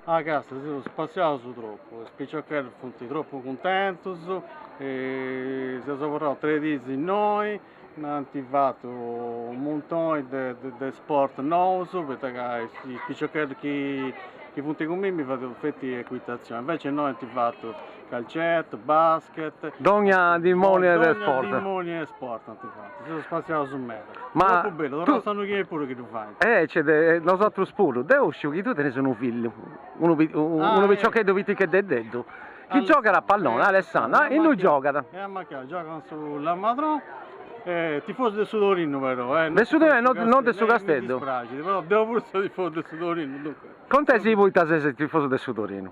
Ah càstia, si seus spassiaus tropu, is piciocheddus funt tropu cuntentus, seus abarraus tres diis innoi, nd'ant fatu u' muntoni de sport nous, poita ca is piciocheddus chi funt cun mimmi faint feti ecuitazioni, invecias innoi ant fatu Calcettu, basket. Dogna dimòniu 'e sport. Dogna dimòniu 'e sport ant fatu, seus spassiaus meda. Ma tropu bellu, torraus s'annu chi 'enit puru chi ddu fait. Eh certu, nosatrus puru. Deu sciu chi tui tenis unu fillu, unu unu piciocheddu pitichededdeddu chi giogat a palloni, Alessandro, ah innui giogat? E amacai giogat in su Lamadrò, est tifosu de su Torinu però, de su Torinu e non de su Casteddu, mi dispraxit però deu puru seu tifosu de su Torinu, duncas. Contasì poita ses tifosu de su Torinu?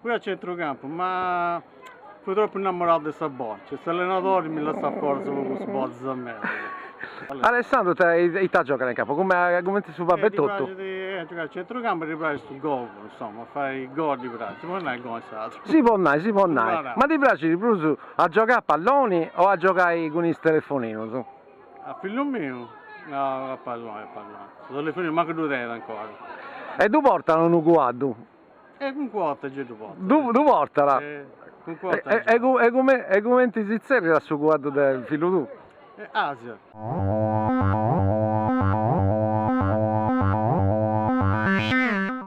Fui a centrocampu ma fui tropu innamorau de sa bòcia e s'allenadori mi lassat fora su pagus bortas a mei. Alessandru ita ita giogat in campu? Cumenti su babbu e totu? Ddi praxit a giogai a centrocampu e ddi praxit su gol, insoma, fai gol ddi praxit, si podit nai gol in sardu? Si podit nai, si podit nai. Ma ddi praxit prus a giogai a palloni o a giogai cun is telefoninus? A fillu miu? No, a palloni, a palloni. Su telefoniu mancu ddu tenit ancora. E ddu portat unu cuaddu? Eh, unu cuaddu gei ddu portat. Ddu portat? Unu cuaddu gei. E cumenti si tzerriat su cuaddu de fillu tuu? Asia.